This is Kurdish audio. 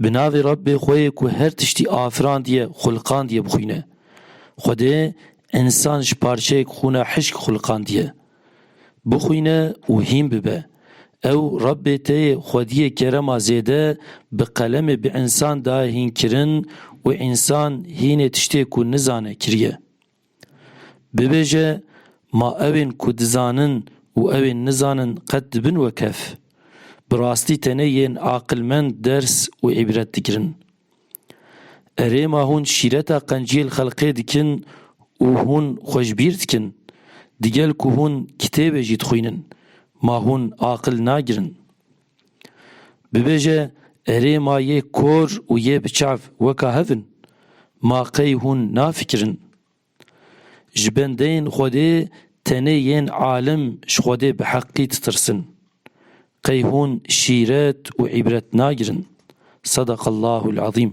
Bi navê Rabbê xwe yê ku her tiştî afirandiye, xulqandiye bixwîne. Xwedê însan ji parçeyek xûna hişk xulqandiye. Bixwîne û hîn bibe. Ew Rabbê te yê xwediyê kerema zêde bi qelemê bi însan de hînkirin û însan hînê tiştê ku nizane kiriye. Bibêje ma ewên ku dizanin û ewên nizanin qet dibin wekhev. Bi rastî tenê yên aqilmend ders û îbret digirin. Erê ma hûn şîreta qenciyê li xelqê dikin û hûn xwe ji bîr dikin. Digel ku hûn kitêbê jî dixwînin, ma hûn aqil nagirin. Bibêje erê ma yê kor û yê biçav weka hev in, ma qey hûn nafikirin? Ji bendeyên Xwedê tenê yên alim ji Xwedê bi heqî ditirsin. Qey hûn şîret û îbret nagirin? Sedeqellahul ezîm.